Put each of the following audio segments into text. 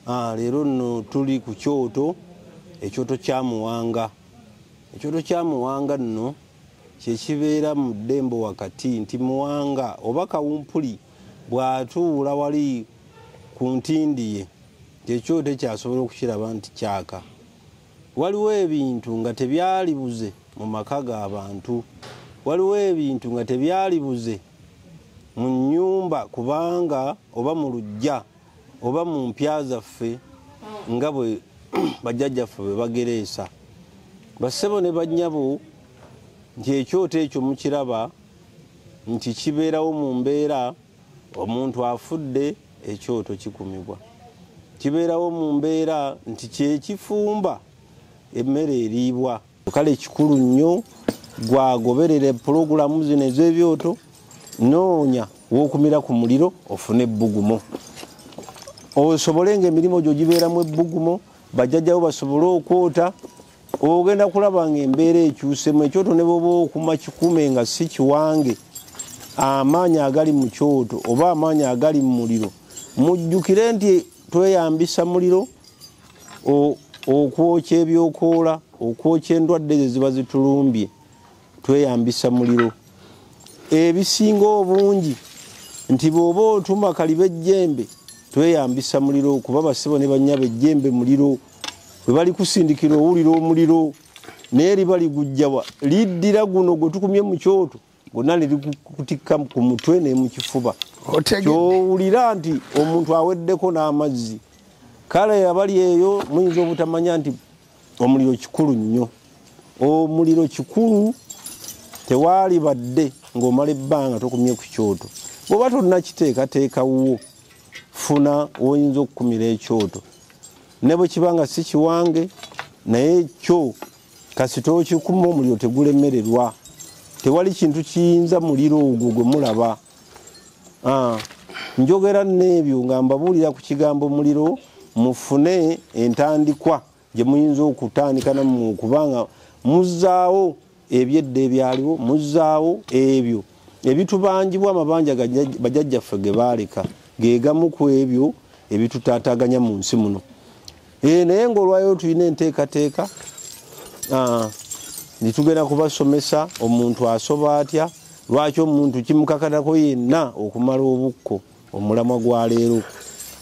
Ah, leero nno tuli ku kyoto ekyoto kya muwanga ekyoto kya muwanga nno kyekibeera mu ddembo wakati nti muwanga oba kawumpuli bw'atuula wali ku ntindi ye kyekyoto ekyasobola okukiraba nti kyaka waliwo ebintu nga tebyalibuze mu maka g'abantu waliwo ebintu nga tebyalibuze mu nnyumba kubanga oba mu lujja oba mu mpya zaffe nga bwe bajjajjaffe bwe bagereesa bassebo ne bannyabo nti ekyoto ekyo mukiraba nti kibeerawo mu mbeera omuntu afudde ekyoto kikumibwa kibeerawo mu mbeera nti kyekifumba emmere eriibwa kale kikulu nnyo gwagoberera pulogulamu zino ez'ebyoto noonya wokumira ku muliro ofune ebbugumo osobole nga emirimu gyo gibeeramu ebbugumo bajjajjawo basobole okwota ogenda kulaba nga embeera ekyusemu ekyoto ne bwoba okuma kikume nga si kiwange amaanyi agali mu kyoto oba amaanyi agali mu muliro mujjukire nti tweyambisa muliro okwokya ebyokoola okwokya endwadde ezo ziba zitulumbye tweyambisa muliro ebisinga obungi nti bwoba otuma kaliba ejjembe tweyambisa muliro kuba basibo ne banyaba ejjembe muliro bwe bali kusindikira owulira omuliro naye liba ligujjawa liddira guno gwe tukumye mu kyoto gonna nerikutikka ku mutwe nemukifuba kyowulira nti omuntu aweddeko n'amazzi kale abali eyo muyinza obutamanya nti omuliro kikulu nnyo omuliro kikulu tewaali badde ng'omala ebbanga tokumye ku kyoto bweoba tonnakiteekateeka wuwo funa woyinza okukumira ekyoto ne bwe kiba nga si kiwange naye kyo kasita okikuma omuliro tegulemererwa tewali kintu kiyinza muliro ogwo gwe mulaba ah, njogera n'ebyo nga mbabuulira ku kigambo muliro mufune entandikwa gye muyinza okutandika namu okubanga muzaawo ebyedda ebyaliwo muzaawo ebyo ebitubanjibwa amabanja bajajjaffe ge baaleka ge gamu ku ebyo ebitutataganya mu nsi muno Eh, naye ngaolwayo tulina enteekateeka ah, netugenda kubasomesa omuntu asoba atya lwaki omuntu kimukakatako yenna okumala obukko omulamwa gwa leero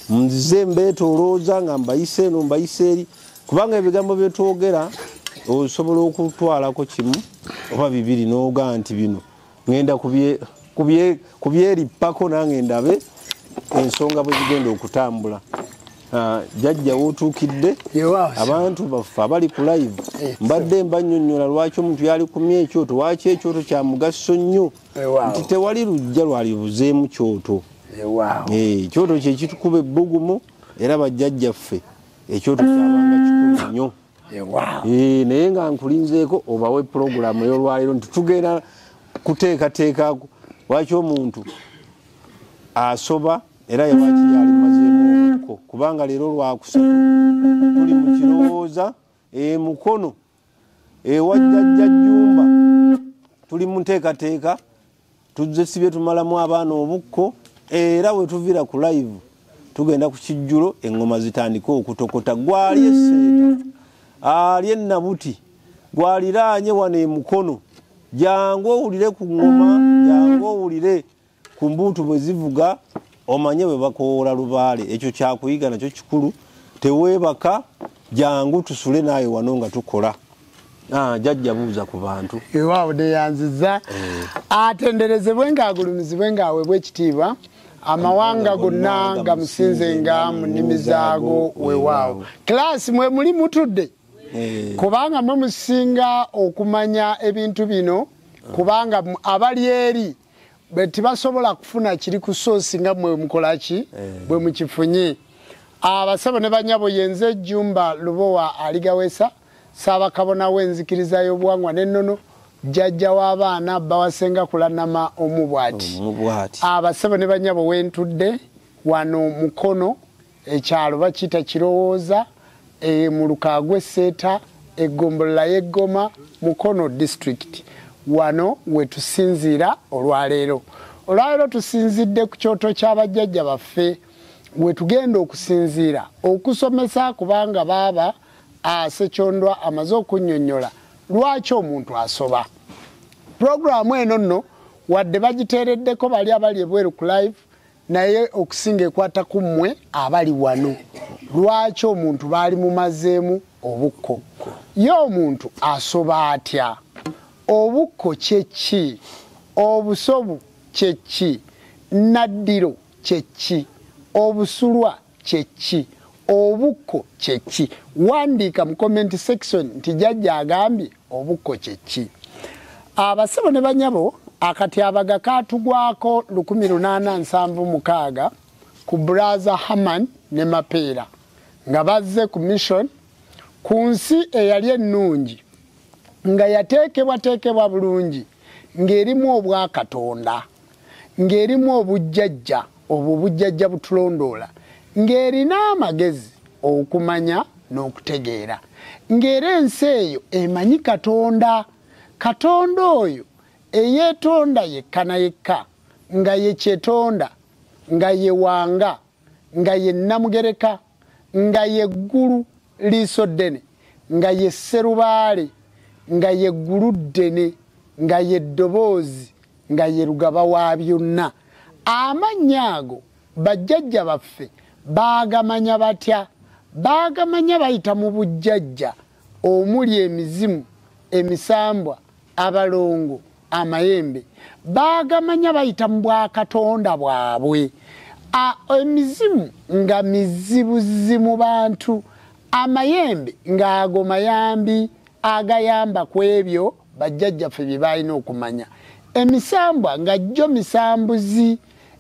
nze mbeetolooza nga mbayise eno mbayise eri kubanga ebigambo byetwogera osobola okutwalako kimu oba bibiri noga nti bino ŋenda ku byerippako nange ndabe ensonga bwe zigenda okutambula ah, jajja wotuukidde abantu baffe abali ku live eh, mbadde mbanyonyola lwaki omuntu yali kumye ekyoto waki ekyoto kya mugaso nnyo nti tewali lujja lwali buzeemu kyoto eh, ekyoto kyekitukuba ebbugumu era bajjajjaffe ekyoto kyabanga kikulu nnyo Eh, eh, naye nga nkulinzeeko obawe pulogulaamu eyolwaleero nti tugenda kuteekateeka lwaki omuntu asoba era yewaki yali mazeemuko kubanga leero lwakusatu tuli mu kirowooza emukono ewajjajja jjumba tuli mu nteekateeka tuzze sibye tumalamu abaana obukko era wetuvira ku live tugenda ku kijjulo eŋŋoma zitandike okutokota gwali eseeta ali enabuti gwaliraanye wano emukono jangu owulire ku ŋŋoma jangu owulire ku mbuutu bwe zivuga omanye bwe bakowoola lubaale ekyo kyakuyiga nakyo kikulu teweebaka jangu tusule naawe wano nga tukola ah, jajja buuza ku bantu ewaawo neyanziza eh. atenderezebwe ngaagulumizibwe ngaawebwa ekitiibwa amawanga gonna nga musinze nga mu nnimi zaago wewaawo kilaasi mwe muli mutudde eh. kubanga mwe musinga okumanya ebintu bino kubanga abali eri bwe tibasobola kufuna kiri ku soosi nga mwe mukola ki eh. bwe mukifunye abasabo ne banyabo yenze jumba lubowa aligawesa saabakabona w'enzikiriza y'obuwangwa n'ennono jjajja w'abaana bawasenga kulanama omu bwati abasabo ne banyabo wentudde wano mukono ekyalo bakiyita kirowooza e, mu lukaa gw'esseeta eggombolola y'eggoma mukono disitulikiti wano we tusinziira olwaleero olwaleero tusinzidde ku kyoto kya bajjajja baffe we tugenda okusinziira okusomesa kubanga baaba asekyondwa amaze okunnyonnyola lwaki omuntu asoba pulogulaamu eno nno wadde bagiteereddeko bali abali ebweru ku live naye okusinga ekwata ku mmwe abali wano lwaki omuntu baali mumazeemu obukko ye omuntu asoba atya obukko kyekki obusobu kyekki naddiro kyekki obusulwa kyeki obukko kyeki wandiika mu comment section nti jajja agambye obukko kyeki abasebo ne banyabo akatyabaga katugwako 1876 ku braza haman ne mapeera nga bazze ku mission ku nsi eyali ennungi nga yateekebwateekebwa bulungi ng'erimu obwakatonda ng'erimu obujjajja obwo obujjajja butulondoola ng'erina amagezi okumanya n'okutegeera ng'era ensi eyo emanyi katonda katonda oyo eyeetonda yekka na yekka nga ye kyetonda nga ye wanga nga ye nnamugereka nga ye ggulu liiso ddene nga ye sserubaale nga ye ggulu ddene nga ye ddoboozi nga ye lugaba wa byonna amannya ago bajjajja baffe baagamanya batya baagamanya bayita mu bujjajja omuli emizimu emisambwa abalongo amayembe baagamanya bayita mu bwakatonda bwabwe emizimu nga mizibuzi mu bantu amayembe ng'ago mayambi agayamba ku ebyo bajjajjaffe bye baalina okumanya emisambwa nga jjo misambuzi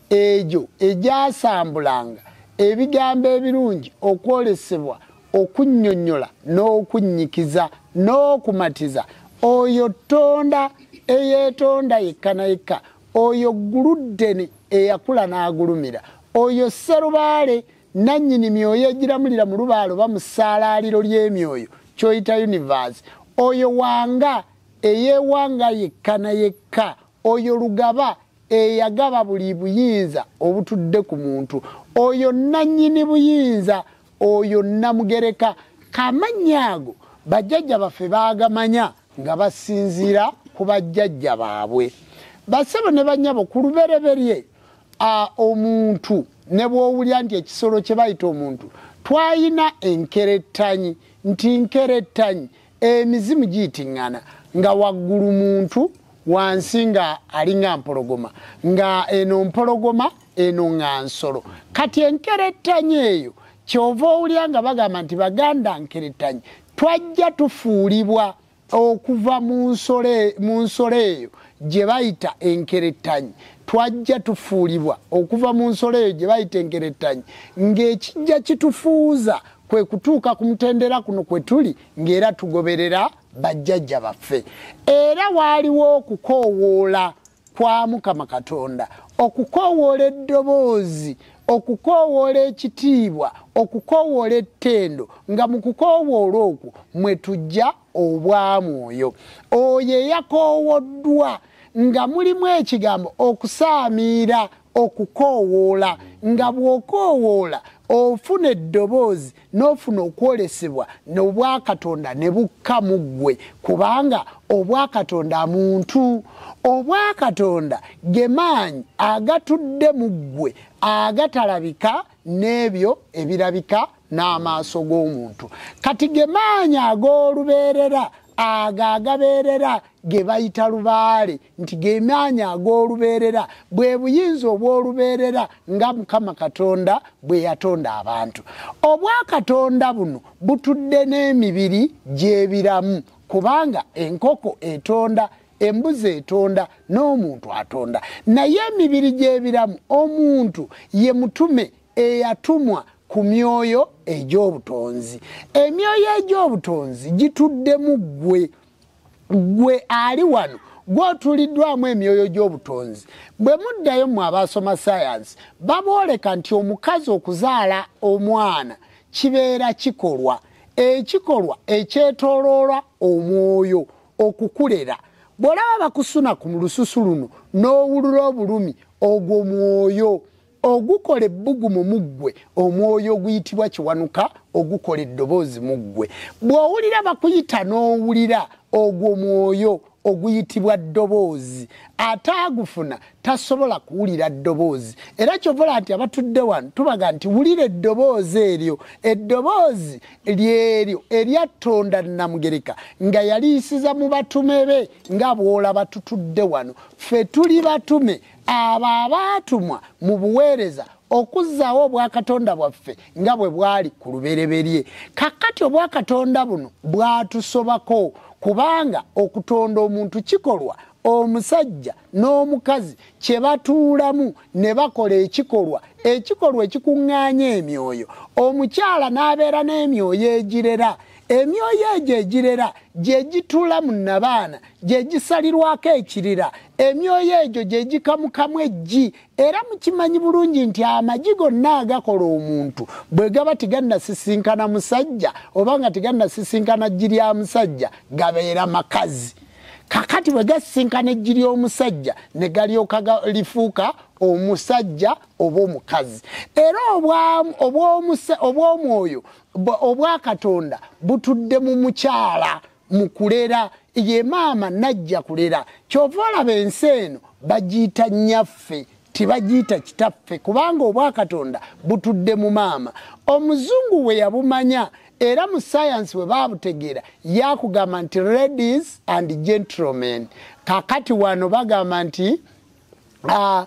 egyo egyasambulanga ebigambo ebirungi okwolesebwa okunnyonnyola n'okunnyikiza n'okumatiza oyo tonda eyeetonda yekka na yekka oyo gguluddene eyakula n'agulumira oyo sserubaale nannyini myoyo egiramulira mu lubaala oba mu ssaalaaliro ly'emyoyo kyoyita universe oyo wanga eyewanga yekka na yekka oyo lugaba eyagaba buli buyinza obutudde ku muntu oyo nannyini buyinza oyo namugereka kamannya ago bajjajja baffe baagamanya nga basinziira ku bajjajja baabwe basebo ne banyabo ku lubereberye omuntu ne bwowulira nti ekisolo kye bayita omuntu twalina enkerettanyi nti nkerettanyi emizimu giyitiŋŋana nga waggulu muntu wansi nga alinga mpologoma nga eno mpologoma eno nga nsolo kati enkerettanyi eyo kyova owulira nga bagamba nti baganda nkerettanyi twajja tufuulibwa okuva mu nsolo eyo gye bayita enkerettanyi twajja tufuulibwa okuva mu nsolo eyo gye bayita enkerettanyi ng'ekijja kitufuuza kwe kutuuka ku mutendera kuno kwe tuli ng'era tugoberera bajjajja baffe era waaliwo okukoowoola kwa mukama katonda okukoowoola eddoboozi okukoowoola ekitiibwa okukoowoola ettendo nga mu kukoowoola okwo mwe tujja obwamwoyo oyo eyakoowoddwa nga mulimu ekigambo okusaamiira okukoowoola nga bw'okoowoola ofuna eddoboozi n'ofuna okwolesebwa n'obwakatonda ne bukka mu ggwe kubanga obwakatonda muntu obwakatonda ge maanyi agatudde mu ggwe agatalabika n'ebyo ebirabika n'amaaso g'omuntu kati ge maanyi ag'olubeerera ago agabeerera ge bayita lubaale nti gemaanyi ag'olubeerera bwe buyinza obw'olubeerera nga mukama katonda bwe yatonda abantu obwakatonda buno butudde n'emibiri gy'ebiramu kubanga enkoko etonda embuzi etonda n'omuntu atonda naye emibiri gy'ebiramu omuntu ye mutume eyatumwa ku myoyo egy'obutonzi emyoyo egy'obutonzi gituddemu ggwe gwe ali wano gwotuliddwamu emyoyo gy'obutonzi bwe muddayo mwe abaasoma sayansi babooleka nti omukazi okuzaala omwana kibeera kikolwa ekikolwa ekyetoloolwa omwoyo okukulera bw'olaba bakusuna ku lususu luno n'owulula obulumi ogwo mwoyo ogukola ebbugumu mu ggwe omwoyo oguyitibwa kiwanuka ogukola eddoboozi mu ggwe bw'owulira bakuyita n'owulira ogwo mwoyo oguyitibwa ddoboozi ate agufuna tasobola kuwulira ddoboozi era kyovola nti abatudde wano tubaga nti wulira eddoboozi eryo eddoboozi lyeryo eryattonda namugereka nga yaliyisiza mu batume be nga bwolaba tutudde wano ffe tuli batume abo abaatumwa mu buweereza okuzzaawo obwakatonda bwaffe nga bwe bwali ku lubereberye kakkati obwakatonda buno bwatusobako kubanga okutonda omuntu kikolwa omusajja n'omukazi kye batuulamu ne bakola ekikolwa ekikolwa ekikuŋŋaanya emyoyo omukyala n'abeera n'emyoyo egirera emyoyo egyo egirera gye gitula mu nabaana gye gisalirwako ekirira emyoyo egyo gye gikamukamu eggi era mukimanyi bulungi nti amagi gonna agakola omuntu bwe gaba tigannasisinkana musajja oba nga tigannasisinkana ggi lya musajja gabeera makazi kakati bwe gasisinkana eggi ly'omusajja ne galyoka lifuuka omusajja oba omukazi era obw'omwoyo obwa katonda butudde mu mukyala mukulera ye maama najja kulera kyova olaba ensi eno bagiyita nyaffe tibagiyita kitaffe kubanga obwakatonda butudde mu maama omuzungu we yabumanya era mu sayansi bwe babutegeera yakugamba nti ladies and gentlemen kakati wano bagamba nti ah,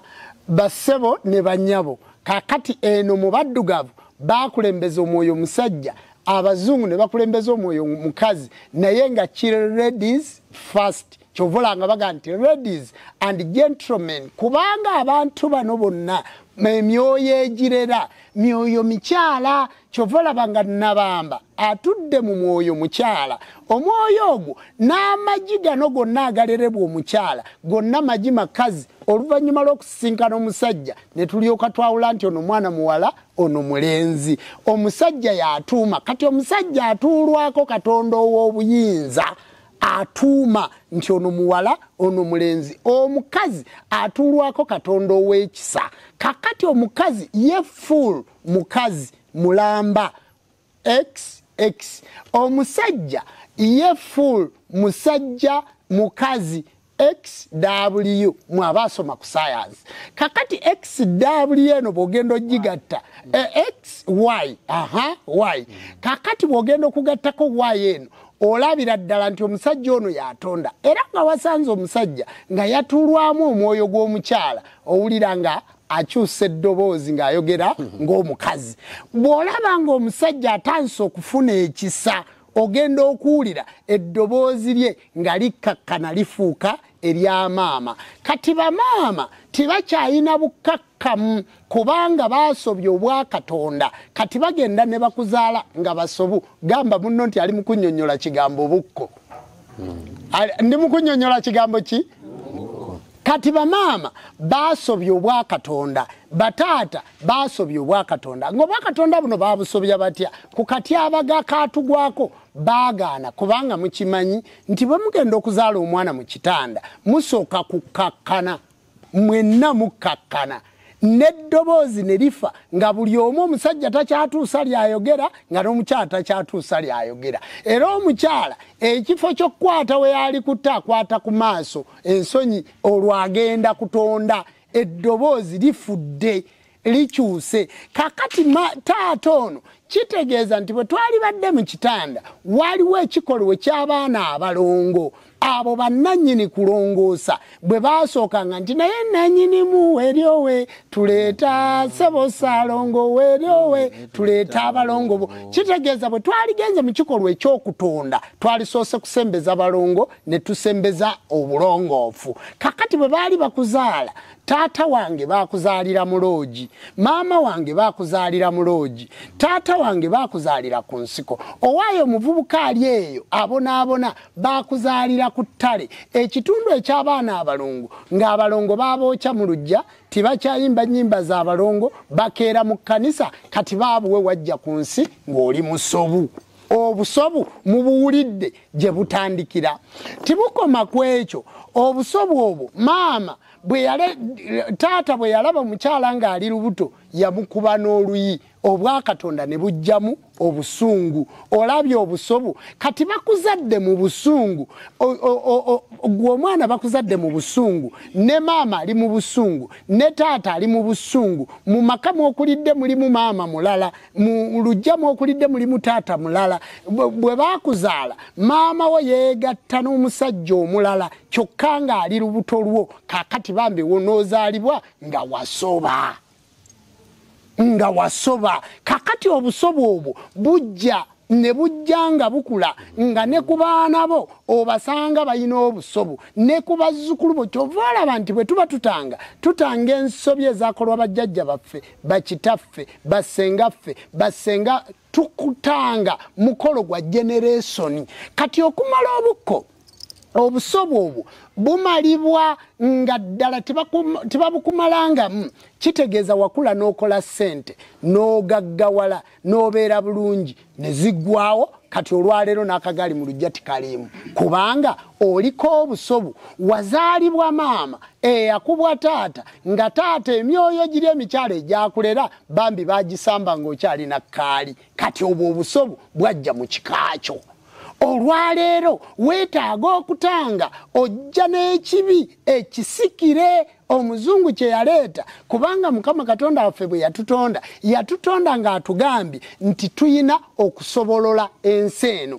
bassebo ne banyabo kakati eno mu baddugavu bakulembeza omwoyo omusajja abazungu ne bakulembeza omwoyo omukazi naye nga ki ladies first kyovolanga baga nti ladies and gentlemen kubanga abantu bano bonna emyoyo egirera myoyo mikyala kyova olaba nga nabamba atudde mu mwoyo mukyala omwoyo ogwo n'amagi gano gonna agalerebwa omukyala gonna magi makazi oluvannyuma lw'okusisinkana omusajja ne tulyoka twawula nti ono mwana muwala ono mulenzi omusajja y'atuuma kati omusajja atuulwako katonda ow'obuyinza atuuma nti ono muwala ono mulenzi omukazi atuulwako katonda ow'ekisa kakati omukazi ye full mukazi mulamba xx omusajja ye full musajja mukazi xw mwaba asoma ku sayansi kakati xw eno bwogenda ogigatta e, xy aha y kakati bwogenda okugattako y eno olabira ddala nti omusajja ono yatonda era nga wasanze omusajja nga yatulwamu omwoyo gw'omukyala owulira nga akyusa eddoboozi ng'ayogera ng'omukazi bw'olaba ng'omusajja atandise okufuna ekisa ogenda okuwulira eddoboozi lye nga likkakkana lifuuka erya maama kati bamaama tebakyayina bukkakkamu kubanga baasobya obwakatonda kati bagenda ne bakuzaala nga basobu gamba munno nti ali mukunyonyola kigambo bukko hmm. ndi mukunyonyola kigambo ki kati bamaama basobya obwakatonda bataata basobya obwakatonda nga obwakatonda buno babusobya batya ku katyabaga katugwako baagaana kubanga mukimanyi nti bwe mugenda okuzaala omwana mu kitanda musooka kukkakkana mwenna mukkakkana n'eddoboozi ne lifa nga buli omu omusajja takyatuusa lyayogera nga n'omukyala takyatuusa lyayogera era omukyala ekifo ky'okukwata we yaali kutte akwata ku maaso ensonyi olwagenda kutonda eddoboozi lifudde likyuse kakati taata ono kitegeeza nti bwe twalibadde mu kitanda waliwo ekikolwa eky'abaana abalongo abo bannanyini kulongoosa bwe baasookanga nti naye nanyinimu weryowe tuleeta sebo saalongo weryowe tuleeta abalongo bo kitegeeza bwe twaligenze mu kikolwa ekyokutonda twalisoose kusembeza balongo ne tusembeza obulongoofu kakati bwe baali bakuzaala taata wange bakuzaalira mu loogi maama wange bakuzaalira mu loogi taata wange bakuzaalira ku nsiko owaayo omuvubuka ali eyo abonaabona baakuzaalira ku ttale ekitundu eky'abaana abalongo ng'abalongo baabookya mu lujja tibakyayimba nnyimba za balongo bakeera mu kkanisa kati baabuwe wajja ku nsi ng'oli musobu obusobu mubuwulidde gye butandikira tibukoma ku ekyo obusobu obwo maama taata bwe yalaba omukyala ng'ali lubuto yamukuba n'oluyi obwakatonda ne bujjamu obusungu olabye obusobu kati bakuzadde mu busungu gwe omwana bakuzadde mu busungu ne maama ali mu busungu ne taata ali mu busungu mu maka mwokulidde mulimu maama mulala mu lujja mwokulidde mulimu taata mulala bwe bakuzaala maama wo yeegatta n'omusajja omulala kyokka ng'ali lubuto lwo kakati bambi wonoozaalibwa nga wasoba nga wasoba kakati obusobo obwo bujja ne bujja nga bukula nga ne ku baana bo obasanga balina obusobu ne ku bazzukulu bo kyova olaba nti bwe tuba tutanga tutanga ensobi ezakolwa bajjajja baffe bakitaffe bassengaffe bassenga tukutanga mukolo gwa generesoni kati okumala obukko obusobo obwo bumalibwa nga ddala tebabukumalangamu kitegeeza wakula n'okola ssente n'ogaggawala n'obeera bulungi ne ziggwawo kati olwaleero n'akagaali mu lujja tikaliimu kubanga oliko obusobu wazaalibwa maama eyakubwa taata nga taata emyoyo giri emikyalo egyakulera bambi bagisamba ng'okyalina kaali kati obwo obusobu bwajja mu kikaakyo olwaleero weetaaga okutanga ojja n'ekibi ekisikire omuzungu kye yaleeta kubanga mukama katonda waffe bwe yatutonda yatutonda ng'atugambye nti tuyina okusobolola ensi eno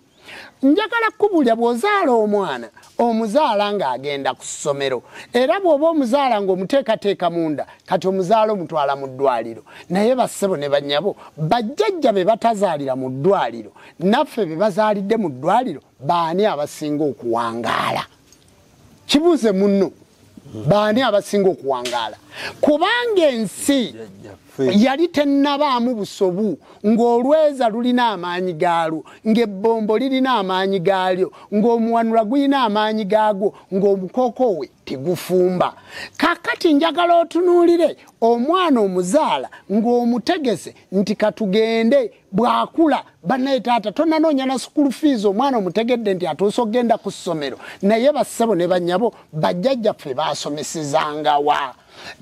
njagala kukubulira bw'ozaala omwana omuzaala ng'agenda ku ssomero era bw'oba omuzaala ng'omuteekateeka munda kati omuzaala omutwala mu ddwaliro naye bassebo ne banyabo bajjajja be batazaalira mu ddwaliro naffe be bazaalidde mu ddwaliro baani abasinga okuwangaala kibuuze munno baani abasinga okuwangaala kubanga ensi yali tennabaamu busobu ng'olweza lulina amaanyi gaalwo ng'ebbombo lirina amaanyi gaalyo ng'omuwanula gulina amaanyi gaagwo ng'omukoko we tegufumba kakati njagala otunuulire omwana omuzaala ng'omutegese nti katugende bwakula banaye taata tonanoonya na sukulu fiizi omwana omutegedde nti atuusa okugenda ku ssomero naye bassebo ne banyabo bajjajjaffe baasomesezangawa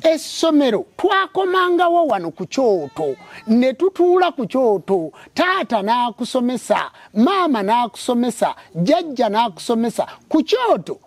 essomero twakomangawo wano ku kyoto ne tutuula ku kyoto taata n'akusomesa maama n'akusomesa jajja n'akusomesa ku kyoto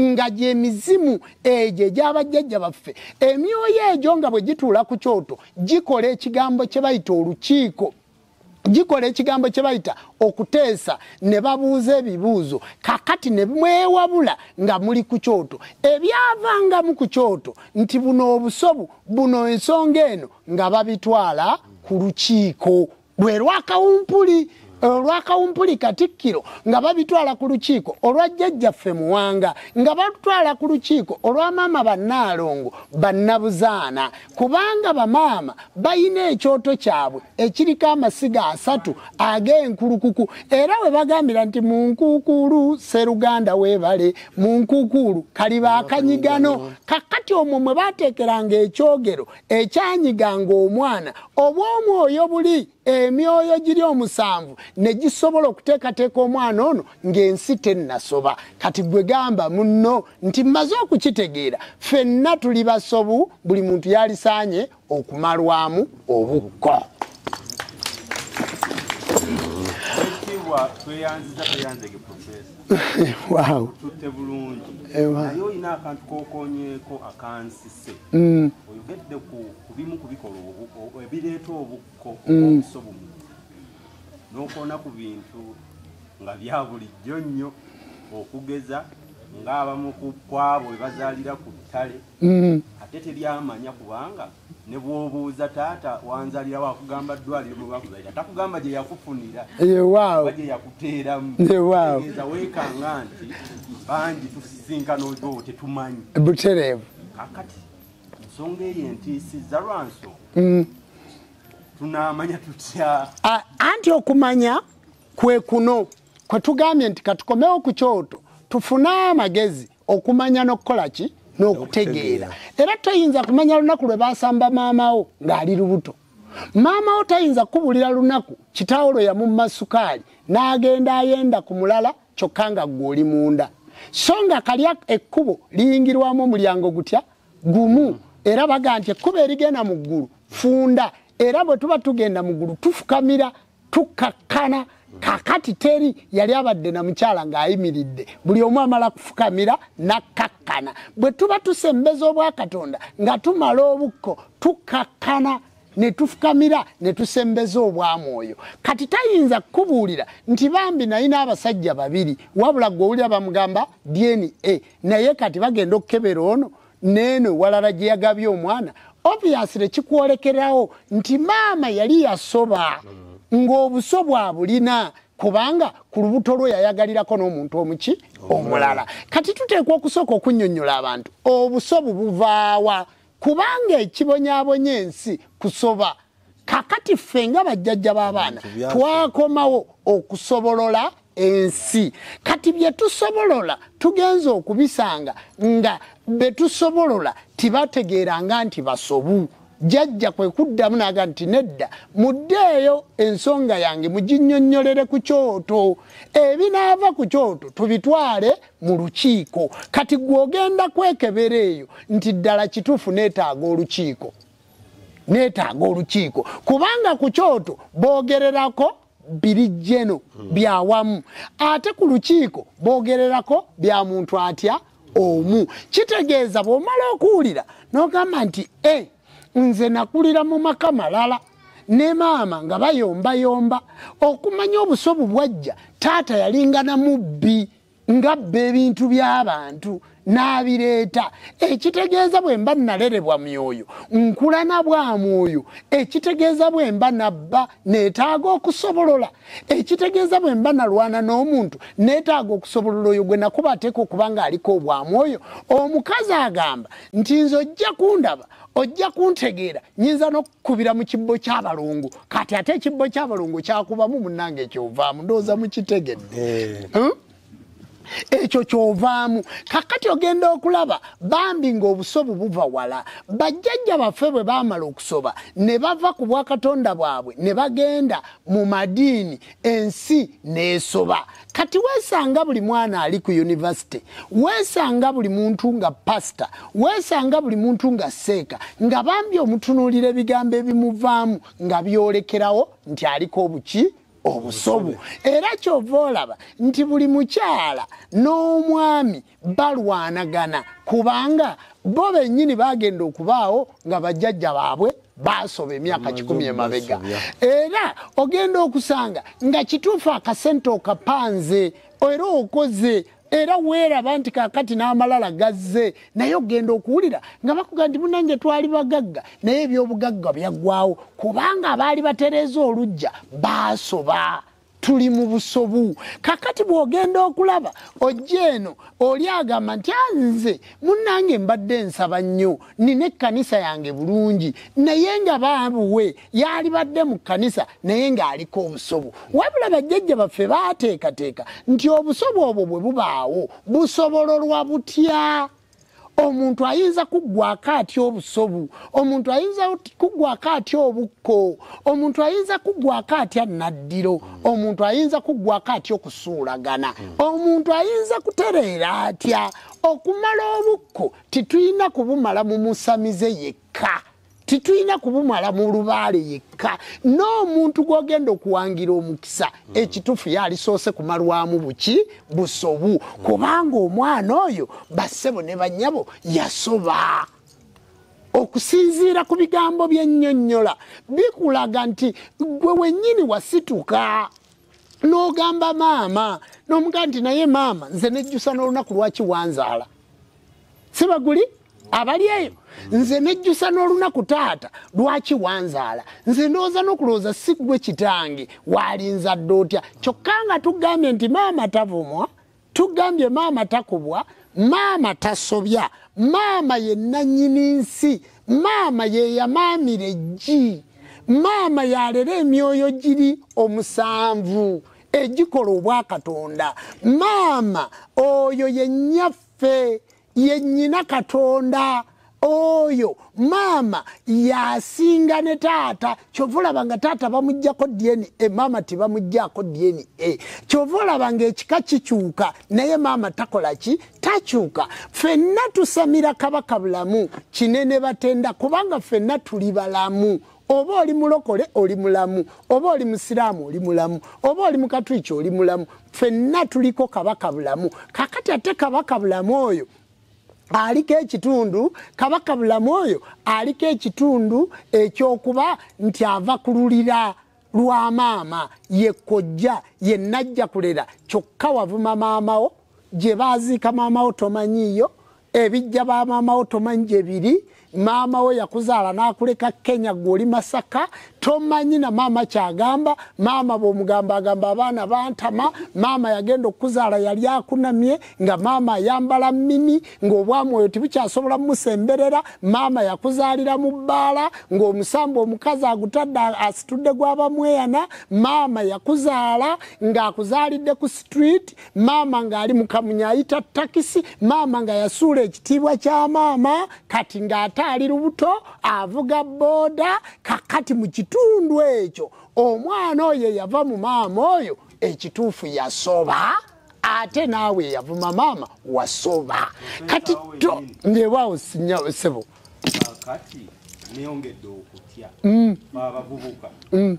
nga gyemizimu egyo egyabajjajja baffe emyoyo egyo nga bwe gituula ku kyoto gikola ekigambo kye bayita olukiiko gikola ekigambo kye bayita okuteesa ne babuuza ebibuuzo kakati ne mwewabula nga muli ku kyoto ebyavangamu ku kyoto nti buno obusobu buno ensonga eno nga babitwala ku lukiiko bwe lwakawumpuli olwakawumpuli katikkiro nga babitwala ku lukiiko olwa jjajjaffe muwanga nga batwala ku lukiiko olwa maama bannaalongo bannabuzaana kubanga bamaama balina ekyoto kyabwe ekiriko amasiga asatu ag'enkulukuku era we bagambira nti mu nkuukuulu seruganda weebale mu nkuukuulu kaliba akanyigano kakati omwo mwe bateekeranga ekyogero ekyanyiga ng'omwana oba omwoyo buli emyoyo giri omusanvu ne gisobola okuteekateeka omwana ono ng'ensi tennasoba kati gwe gamba munno nti mmaze okukitegeera ffenna tuli basobu buli muntu yalisaanye okumalwamu obukko tweyanziza tweyanzege profesa wow. tutte bulungi naye olina akantu kokonyeko akansi Oluusi mm. oyogedde ku bimu ku bikola ebireeta obukko mm. obuso bumu n'okoona ku bintu nga bya bulijjo nnyo okugeza ng'abamu ku kwabo bwe bazaalira ku ttale mm. ate teryamanya kubanga ne bw'obuuza taata wanzalirawo akugamba ddwaliro mwe bakuzalira takugamba gye yakufunira oba gye yakuteeramu weekanga nti bangi butereevu kakati ensonga eyo entiisiza lwanso mm. tunamanya tutya anti okumanya kwe kuno kwe tugambye nti katukomewo ku kyoto tufune amagezi okumanya n'okukola ki n'okutegeera era toyinza kumanya lunaku lwe basamba maamawo ng'ali lubuto maama wo tayinza kukubulira lunaku kitaawo lwe yamumma sukaali n'agenda ayenda ku mulala kyokka nga ggwe oli munda so nga kalya ekkubo liyingirwamu omulyango gutya gumu era baga nti ekkubo erigenda mu ggulu funda era bwe tuba tugenda mu ggulu tufukamira tukakkana kakati teri yali abadde na mukyala ng'ayimiridde buli omu amala kufukamira nakkakkana bwe tuba tusembeza obwakatonda nga tumala obukko tukakkana netufukamira netusembeza obwamwoyo kati tayinza kukubuulira nti bambi nayina abasajja babiri wabula gwe owulira bamugamba dna naye kati bagenda okukebera ono neeno ewalala gye yagabye omwana obviously kikwolekerawo nti maama yali yasoba ng'obuso bwabulina kubanga ku lubuto lwo yayagalirako n'omuntu omuki omulala kati tuteekwa okusooka okunnyonnyola abantu obuso bubuvaawa kubanga ekibonyabonya ensi kusoba kakati ffe nga bajjajja b'abaana twakomawo okusobolola ensi kati bye tusobolola tugenza okubisanga nga be tusobolola tibategeeranga nti basobu jajja kwe kuddamu naga nti nedda muddeeyo ensonga yange muginyonnyolere ku kyoto ebinaava ku kyoto tubitwale mu lukiiko kati gwogenda kwekebera eyo nti ddala kituufu neetaaga olukiiko neetaaga olukiiko kubanga ku kyoto boogererako biri jeno byawamu ate ku lukiiko boogererako bya muntu atya omu kitegeeza bw'omala okuwulira n'ogamba nti e nze nakulira mu maka malala ne maama nga bayombayomba okumanya obusobu bwajja taata yalingana mubbi ngabba ebintu by'abantu n'abireeta ekitegeeza bwe mba nalerebwa myoyo nkula na bwa mwoyo ekitegeeza bwe mba nabba neetaaga okusobolola ekitegeeza bwe mba nalwana n'omuntu neetaaga okusobolola oyo gwe nakuba ateeka okuba ng'aliko obwa mwoyo omukazi agamba nti nze ojja kundaba ojja kuntegeera nyinza kubira mu kibbo kyabalongo kati ate ekibbo kyabalongo kyakubamu munange ekyovaamu ndowooza mukitegedde eh. hmm? ekyo kyovaamu kakati ogenda okulaba bambi ngaobusobu buva wala bajjajja baffe bwe bamala okusoba ne bava ku bwakatonda bwabwe ne bagenda mu madiini ensi nesoba kati wesanga buli mwana ali ku yunivasite wesanga buli muntu nga pasita wesanga buli muntu nga seeka nga bambi omutunuulira ebigambo ebimuvaamu nga byolekerawo nti aliko obuki obusobu era kyova olaba nti buli mukyala n'omwami balwanagana kubanga bo bennyini bagenda okubaawo nga bajjajja baabwe baasoba emyaka kikumi emabega era ogenda okusanga nga kituufu akasente okapanze era okoze era weeraba nti kakati n'amalala gazze naye ogenda okuwulira nga bakuga nti munange twali bagagga naye ebyobugagga byaggwawo kubanga abaali batereeza olujja baasoba tuli mu busobu kakati bwogenda okulaba ojja eno oli agamba nti anze ah, munange mbadde nsaba nnyo nina ekkanisa yange bulungi naye nga baabuwe yaalibadde mu kkanisa naye ng'aliko obusobu wabula bajjajja baffe baateekateeka nti obusobu obwo bwe bubaawo busobololwa butya omuntu ayinza kuggwako atya obusobu omuntu ayinza kuggwako atya obukko omuntu ayinza kuggwako atya naddiro omuntu ayinza kuggwako atya okusuulagana omuntu ayinza kutereera atya okumala obukko titulina kubumala mu musamize yekka titulina kubumala mu lubaale yekka n'omuntu gw'ogenda okuwangira omukisa mm. ekituufu yalisoose kumalwamu buki busobu mm. kubanga omwana oyo bassebo ne bannyabo yasoba okusinziira ku bigambo byennyonnyola bikulaga nti gwe wennyini wasituka n'ogamba maama n'omuga nti naye maama nze nejjusa n'olunaku lwaki wanzaala sibaguli abali eyo nze nejjusa n'olunaku taata lwaki wanzaala nze ndowooza n'okulowooza si gwe kitange waalinzadde otya kyokka nga tugambye nti maama tavumwa tugambye maama takubwa maama tasobya maama ye nanyini nsi maama yeyamaamira eggi maama yalera emyoyo giri omusanvu egikola obwakatonda maama oyo yenyaffe ye nyina katonda oyo maama yasinga ne taata kyova olaba nga taata bamugjako dna e, maama tebamugjako dna e. kyova olaba nga ekika kikyuka naye maama takola ki takyuka fenna tusamira kabaka bulamu kinene batenda kubanga fenna tuli balamu oba oli mulokole oli mulamu oba oli musiraamu oli mulamu oba oli mukatuliki oli mulamu fenna tuliko kabaka bulamu kakati ate kabaka bulamu oyo aliko ekitundu kabaka bulamu oyo aliko ekitundu ekyokuba nti ava kululira lwa maama ye kojja ye najja kulera kyokka wavuma maamawo gye baaziika maamawo tomanyiiyo ebijja ba maama wo tomanyi gye biri maama wo yakuzaala n'akuleka kenya gwe oli masaka tomanyi na maama kyagamba maama bw'omugamba agamba abaana bantama maama yagenda okukuzaala yali akunamye nga maama ayambala mini ng'obwamwoyo tibukyasobola mumusemberera maama yakuzaalira mu bbaala ng'omusamba omukazi agutadde asitudde gwabamweyana maama yakuzaala ng'akuzaalidde ku street maama ng'ali mukamunya ayita takisi maama nga yasuula ekitiibwa kya maama kati ng'ate ali lubuto avuga booda kakati mu kitundu ekyo omwana oyo yava mu maama oyo ekituufu yasoba ate naawe yavuma maama wasoba kati to ngebwawo sinyasebo neyongedde okutya mm. abavubuka mm.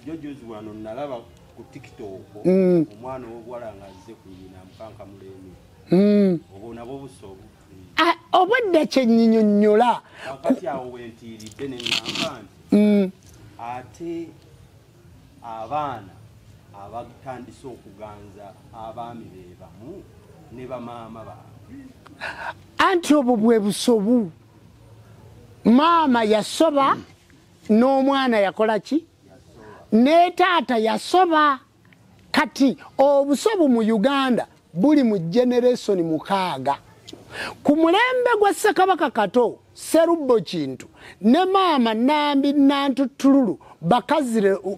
jojozi wano nalaba ku tiktok mm. omwana owobuwala nga azze ku nyina mukanka mulemi mm. obwo nabwo busobu ah, obwedda kyenyinyonyola akati awo wentiiridde neŋamba nti mm. ate abaana abatandise okuganza abaami be bamu ne bamaama baabwe anti obwo bwe busobu maama yasoba n'omwana yakola ki mm. ne taata yasoba kati obusobu mu uganda buli mu generesoni mukaaga ku mulembe gwa ssekabaka kato serubbo kintu ne maama nambi nantutululu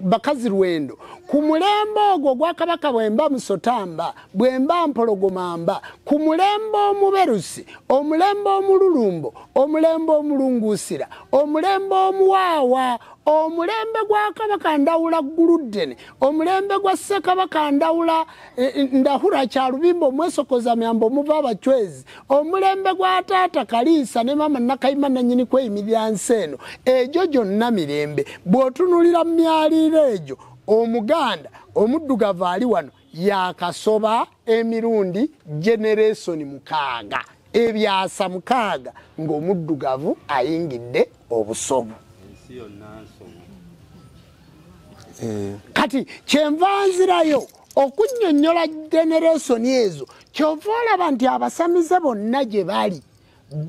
bakazi lwendo ku mulembe ogwo gwa kabaka bwemba musotamba bwemba mpologomamba ku mulembe omuberusi omulembe omululumbo omulembe omulunguusira omulembe omuwaawa omulembe gwa kabaka ndawula guluddene omulembe gwa ssekabaka ndawula eh, eh, ndahura kyalubimba omwesokoza myamba omuva abacwezi omulembe gwa taata kaliisa ne maama nakayima nanyini kweyimirira nsi eno egyo gyonna mirembe bw'otunulira mu myaliiro egyo omuganda omuddugavu ali wano yakasoba emirundi generesoni mukaaga ebyasa mukaaga ng'omuddugavu ayingidde obusobu eh. kati kyenva nzirayo okunyonyola generesoni ezo kyova olaba nti abasamize bonna gye bali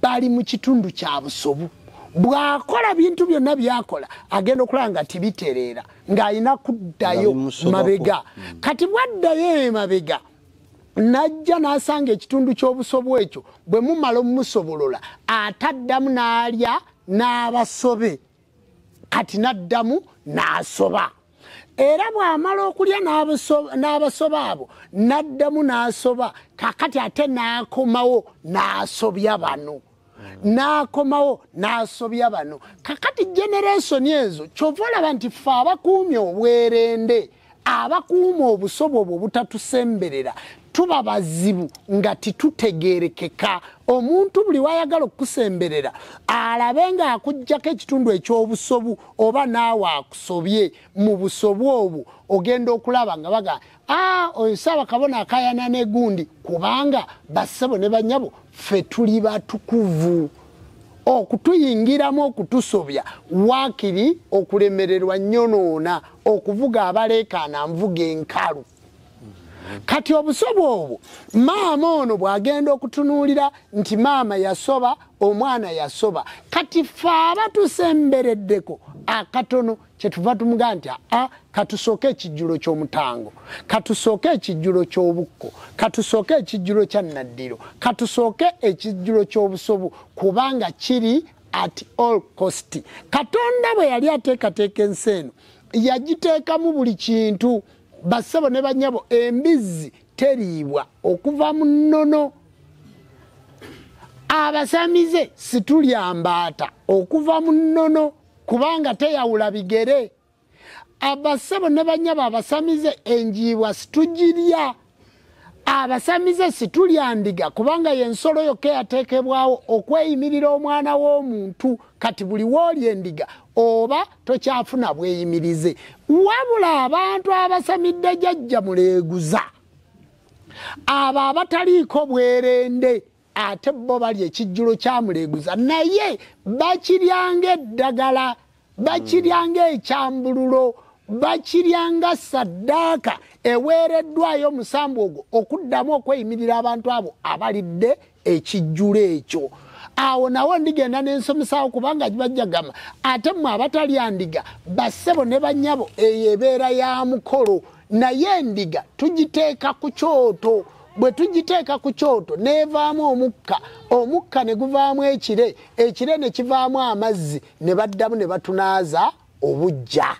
bali mu kitundu kya busobu bw'akola bintu byonna byakola agenda okulaba nga tibitereera ng'alina kuddayo mabega hmm. kati bwaddayo emabega najja n'asanga ekitundu ky'obusobo ekyo bwe mumala omumusobolola ataddamu n'alya n'abasobe kati n'addamu n'asoba era bw'amala okulya n'abasoba abo n'addamu n'asoba kakati ate n'akomawo n'asobya bano n'akomawo n'asobya bano kakati generesoni ezo kyova olaba nti ffe abakuumye obwerende abakuuma obusobo obwo obutatusemberera tuba bazibu nga titutegerekeka omuntu buli wayagala okukusemberera alabe ng'akugjako ekitundu eky'obusobu oba naawe akusobye mu busobu obwo ogenda okulaba nga baga a ah, oyo saaba kabona akayana negundi kubanga bassebo ne banyabo ffe tuli batukuvu okutuyingiramu okutusobya waakiri okulemererwa nyonoona okuvuga abaleekaana nvuga enkalu kati obusobo obwo maama ono bwagenda okutunuulira nti maama yasoba omwana yasoba kati fe abatusembereddeko akatono kyetuva tumugaa nti aa katusooke ekijjulo ky'omutango katusooke ekijjulo ky'obukko katusooke ekijjulo kya naddiro katusooke ekijjulo ky'obusobu kubanga kiri at all cost katonda bwe yali ateekateeka ensi eno yagiteekamu buli kintu bassebo ne banyabo embizzi teriibwa okuva mu nnono abasamize situlyambaata okuva mu nnono kubanga teyawula bigere abassebo ne banyabo abasamize enjiibwa situgirya abasamize situlyandiga kubanga yensolo yokka eyateekebwawo okweyimirira omwana w'omuntu kati buli wooli endiga oba tokyafuna bweyimirize wabula abantu abasamidde jajja muleeguza abo abataliiko bwerende ate bo balya ekijjulo kyamuleeguza naye bakiryanga eddagala bakiryanga ekyambululo bakiryanga saddaaka eweereddwayo omusambu ogwo okuddamu okweyimirira abantu abo abalidde ekijjulo ekyo awo nawo ndigenda nensomesawo kubanga gibajjagama ate mwe abatalyandiga bassebo ne banyabo eyo ebeera ya mukolo naye endiga tugiteeka ku kyoto bwe tugiteeka ku kyoto n'evaamu omukka omukka ne guvaamu ekire ekire ne kivaamu amazzi ne baddamu ne batunaaza obujja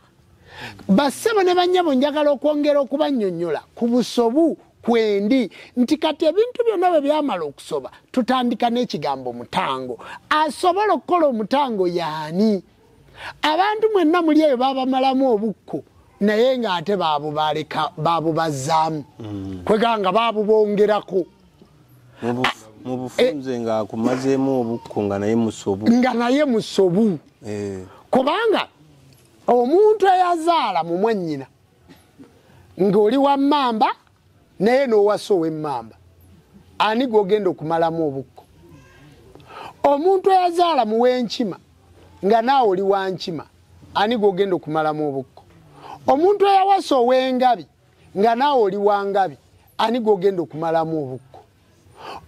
bassebo ne bannyabo njagala okwongera okubannyonnyola ku busobu kwendi nti kati ebintu byonna bwe byamala okusoba tutandika n'ekigambo mutango asobola okukola omutango yaani abantu mwenna muli eyo babamalamu obukko naye ng'ate babubaleka babubazzaamu mm. kwega nga babubongerako mubufunze nga akumazeemu obukko nga naye musobu nga naye musobu eh. kubanga omuntu eyazaala mu mwannyina ng'oli wa mmamba naye n'owasa ow'emmamba ani gwogenda okumalamu obukko omuntu eyazaala mu w'enkima nga naawe oli wankima ani gwogenda okumalamu obukko omuntu eyawasa ow'engabi nga naawe oli wa ngabi ani gwogenda okumalamu obukko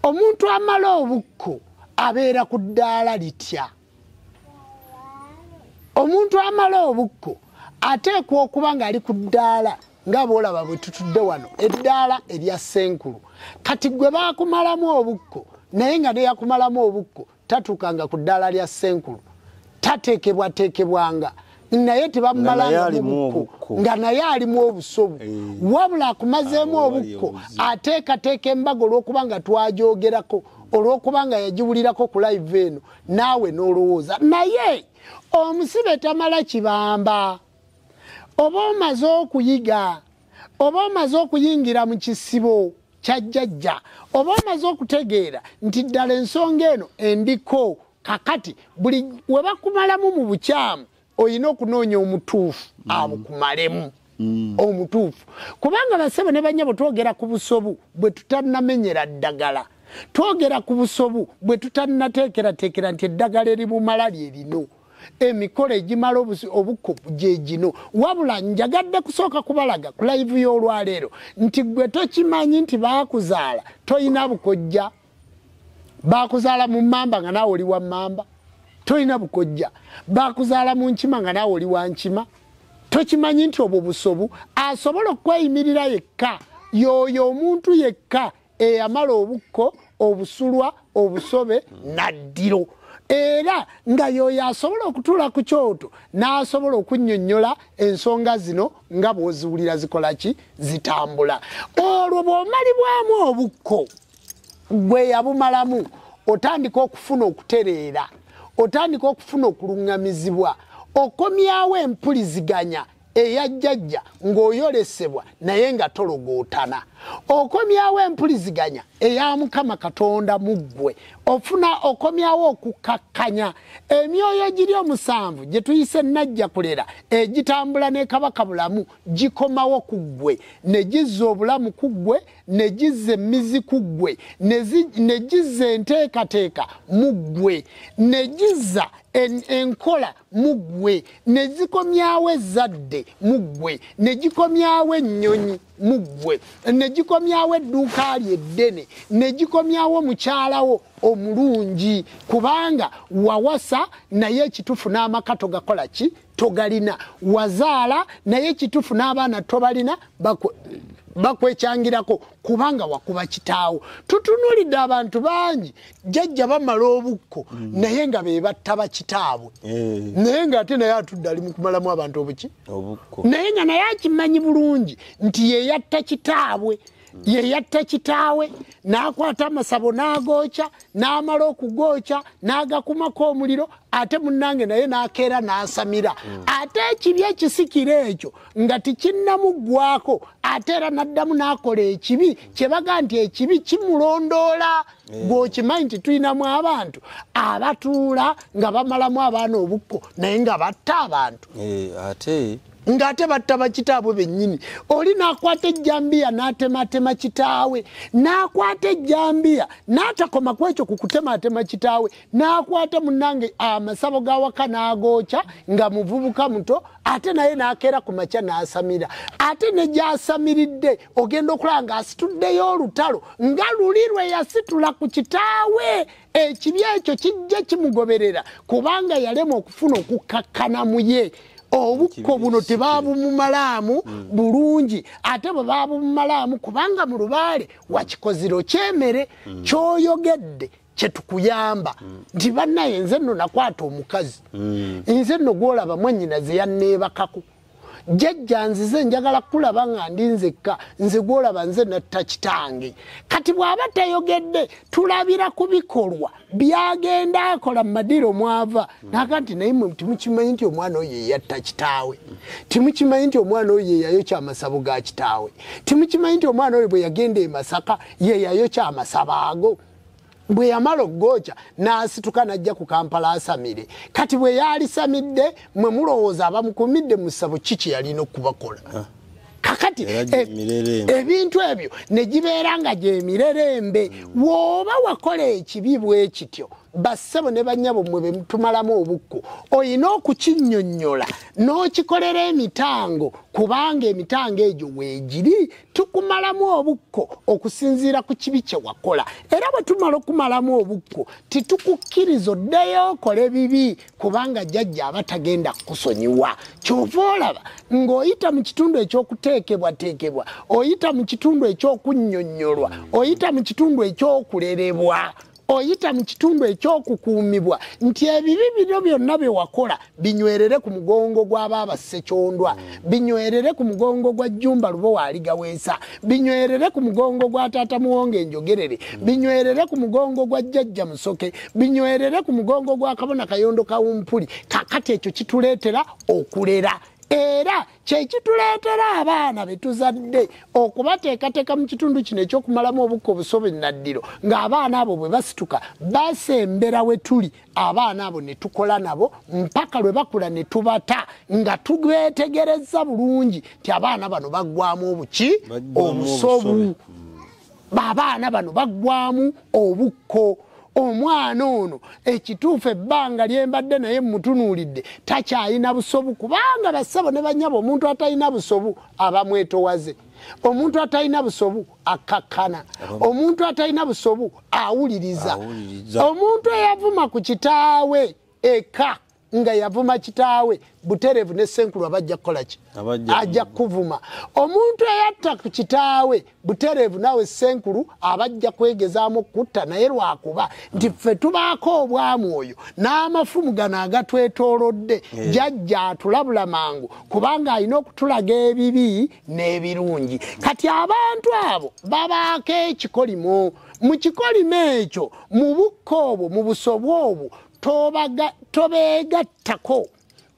omuntu amala obukko abeera ku ddaala litya omuntu amala obukko ateekwa okuba ng'ali ku ddaala nga boolaba bwe tutudde wano eddaala erya senkulu kati gwe baakumalamu obukko naye nga neyakumalamu obukko tatuukanga ku ddaala lya ssenkulu tateekebwateekebwanga naye tebamumalangamubuko nga naye alimu obusobu eh. wabula akumazeemu ah, obukko ateekateeka embaga olw'okuba nga twagyogerako olw'okuba nga yagiwulirako ku live eno naawe n'olowooza naye omusibe tamala kibamba oba omaze okuyiga oba omaze okuyingira mu kisibo kyajjajja oba omaze okutegeera nti ddala ensonga eno endiko kakati buli webakumalamu mu bukyamu olina okunoonya omutuufu mm. abukumalemu mm. omutuufu kubanga basebo ne banyabo twogera ku busobu bwe tutanamenyera ddagala twogera ku busobu bwe tutannateekerateekera nti eddagala eribumala lye lino emikolo egimala obuko gyegino wabula njagadde kusooka kubalaga ku layivu y'olwaleero nti gwe tokimanyi nti baakuzaala tolina bukojja baakuzaala mu mamba nga naawe oli wa mamba tolina bukojja baakuzaala mu nkima nga naawe oli wa nkima tokimanyi nti obwo busobu asobola okweyimirira yekka yoyo omuntu yekka eyamala obukko obusulwa obusobe naddiro era nga yoyo asobola okutuula ku kyoto n'asobola okunnyonnyola ensonga zino nga bw'oziwulira zikola ki zitambula olwo bw'omalibwamu obukko gwe yabumalamu otandika okufuna okutereera otandika okufuna okuluŋŋamizibwa okomyawo empuliziganya eya jjajja ng'oyolesebwa naye nga tologootana okomyawo empuliziganya eya mukama katonda mu ggwe ofuna okomyawo okukkakkanya emyoyo giri omusanvu gye tuyise ennajja kulera egitambula ne kabaka bulamu gikomawo ku ggwe ne gizza obulamu ku ggwe ne gizza emmizi ku ggwe ne gizza enteekateeka mu ggwe ne gizza enkola muggwe ne zikomyawo ezzadde muggwe ne gikomyawo ennyonyi muggwe ne gikomyawo edduuka lye eddene ne gikomyawo mukyalawo omulungi kubanga wawasa naye ekitufu n'amaka togakola ki togalina wazaala naye ekitufu n'abaana tobalina bakwekyangirako kubanga wakuba kitaawo tutunulidde abantu bangi jajja bamala obukko mm. naye nga bebatta bakitaabwe eh. naye nga ate naye atudde ali mukumalamu abantu obuki naye nga naye akimanyi bulungi nti yeyatta kitaabwe mm. yeyatta kitaawe n'akwata amasabo n'agooca n'amala okugooca n'agakumako omuliro ate munnange naye n'akeera n'asamira mm. ate ekibi ekisikira ekyo nga tikinnamuggwako ate era n'addamu n'akola ekibi kye baga nti ekibi kimulondoola eh. gwokimanyi nti tulinamu abantu abatuula nga bamalamu abaana obukko naye nga batta abantu eh, ate ng'ate batta bakitaabwe bennyini oli n'akwata ejjambiya n'atematema kitaawe n'akwata ejjambiya n'atakoma ku ekyo ku kutematema kitaawe n'akwata munnange amasabo gawaka n'agookya nga muvubuka muto ate naye n'akeera ku makya n'asamira ate ne gy'asamiridde ogenda okulaba ng'asituddeyo olutalo nga luli lwe yasitula ku kitaawe ekibi ekyo kijja kimugoberera kubanga yalema okufuna okukkakkana mu ye obukko buno tebabumumalaamu mm. bulungi ate bwe babumumalaamu kubanga mu lubaale wakikoziro kyemere mm. kyoyogedde kyetukuyamba mm. nti banaye nze nno nakwata omukazi mm. nze nno gwolaba mwanyina zeyanneebakako jajja nzize njagala kulaba nga ndi nzekka nze gwolaba nze natta kitange kati bw'aba tayogedde tulabira ku bikolwa byagenda akola mu madiiro mwava naga nti naye mwe timukimanyi nti omwana oyo eyatta kitaawe timukimanyi nti omwana oyo yeyayokya amasabo ga kitaawe timukimanyi nti omwana oyo bwe yagenda e masaka yeyayokya amasabo ago bwe yamala okugooca n'asituka n'ajja ku kampala asamire kati bwe yaalisamidde mwe mulowooza abamukumidde mu ssabo ki kye yalina okubakola ah. kakati eh, ebintu ebyo ne gibeera nga gyemirerembe hmm. wooba wakola ekibi bwe kityo bassebo ne bannyabo mmwe be tumalamu obukko olina okukinnyonnyola n'okikolera emitango kubanga emitango egyo weegiri tukumalamu obukko okusinziira ku kibi kye wakola era bwe tumala okumalamu obukko titukukkiriza oddeyo okole bibi kubanga jajja aba tagenda kukusonyiwa kyova olaba ng'oyita mu kitundu ekyokuteekebwateekebwa oyita mu kitundu ekyokunnyonnyolwa oyita mu kitundu ekyokulerebwa oyita mu kitundu ekyokukuumibwa nti ebibi bino byonna bye wakola binywerere ku mugongo gw'abaaba ssekyondwa binywerere ku mugongo gwa jjumba lubo waaligaweesa binywerere ku mugongo gwa taata muwonga enjogerere binywerere ku mugongo gwa jjajja musoke binywerere ku mugongo gwa kabona kayondo kawumpuli kakati ekyo kituleetera okulera era kyekituleetera abaana betuzadde okubateekateeka mu kitundu kino ekyokumalamu obukka obusobe naddiro ng'abaana abo bwe basituka basembera we tuli abaana abo ne tukola nabo mpaka lwe bakula ne tubata nga tubeetegereza bulungi nti abaana bano baggwamu obuki obusobu abaana bano baggwamu obukko omwana ono ekituufu ebbanga lyembadde naye mutunuulidde takyalina busobu kubanga bassabo ne banyabo omuntu atalina busobu abamwetowaze omuntu atalina busobu akkakkana omuntu atalina busobu awuliriza omuntu eyavuma ku kitaawe eka nga yavuma kitaawe buterevu ne senkulu abajja kukolaki ajja kuvuma omuntu eyatta ku kitaawe buterevu nawe senkulu abajja kwegezaamu okutta naye lwakuba nti ffe tubaako obwamwoyo n'amafumu gano agatwetoolodde eh. jajja atulabula mangu kubanga alina okutulaga ebibi n'ebirungi kati abantu abo babaako ekikolimo mu kikolimo ekyo mu bukka obwo mu busobwa obwo tobeegattako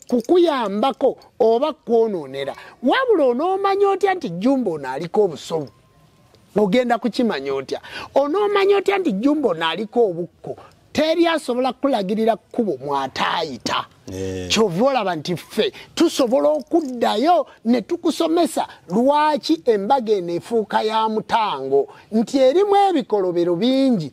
kukuyambako oba kwonoonera wabula onoomanya otya nti jjumba ono aliko obusobu ogenda kukimanya otya onoomanya otya nti jjumba ono aliko obukko teri asobola kukulagirira kkubo mwataayita eh. kyova olaba nti ffe tusobola okuddayo ne tukusomesa lwaki embaga eno efuuka ya mutango nti erimu ebikolobero bingi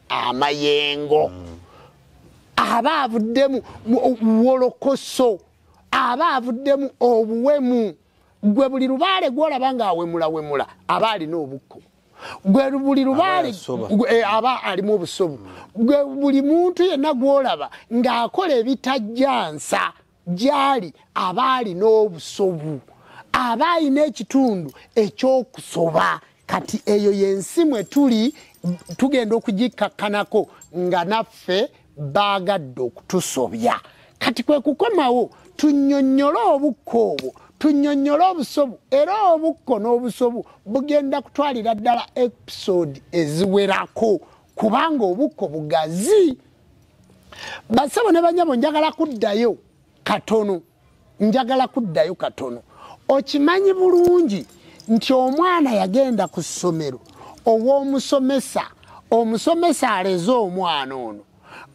amayengo mm. aba avuddemu wolokoso aba avuddemu obuwemu gwe buli lubaale gwolaba nga awemulawemula aba alina obukko gwe buli lubaale eh, aba alimu obusobu gwe buli muntu yenna gwolaba ng'akola ebitajjansa gyali abaali n'obusobu aba alina ekitundu ekyokusoba kati eyo yensi mwe tuli tugenda okugikkakkanako nga naffe baagadde okutusobya kati kwe kukomawo tunyonnyole obukka obwo tunyonnyole obusobu era obukko n'obusobu bugenda kutwalira ddala episode eziwerako kubanga obukko bugazi basebo ne banyabo njagala kuddayo katono njagala kuddayo katono okimanyi bulungi nti omwana yagenda ku ssomero ow'omusomesa omusomesa aleze omwana ono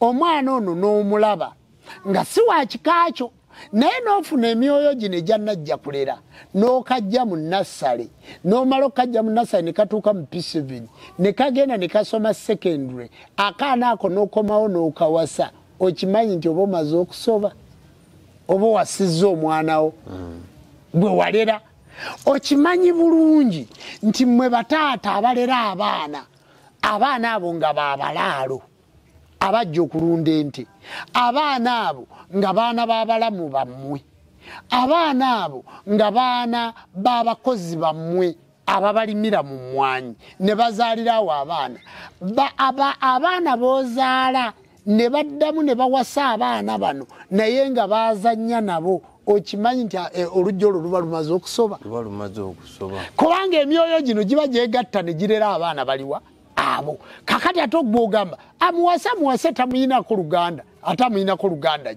omwana ono n'omulaba nga si wa kika kyo naye n'ofuna emyoyo gino egya najja kulera n'okajja mu nassale n'omala okukajja mu nassale ne katuuka mu pisivini ne kagenda ne kasoma secondary akaana ako n'okomawo n'okawasa okimanyi nti oba omaze okusoba oba owasizza omwanawo mm. gwe walera okimanyi bulungi nti mwe bataata abalera abaana abaana abo nga babalaalo abajja okulunda ente abaana abo nga baana babalamu bammwe abaana abo nga baana babakozi bammwe ababalimira mu mmwanyi ne bazaalira awo abaana abaana bozaala ne baddamu ne bawasa abaana bano naye nga bazanya nabo okimanyi nti eh, olujja olwo luba lumaze okusoba kubanga emyoyo gino giba gyegatta ne girera abaana baliwa abo kakati ate ogwogamba amuwase amuwase tamuyinako luganda ate amuyinako luganda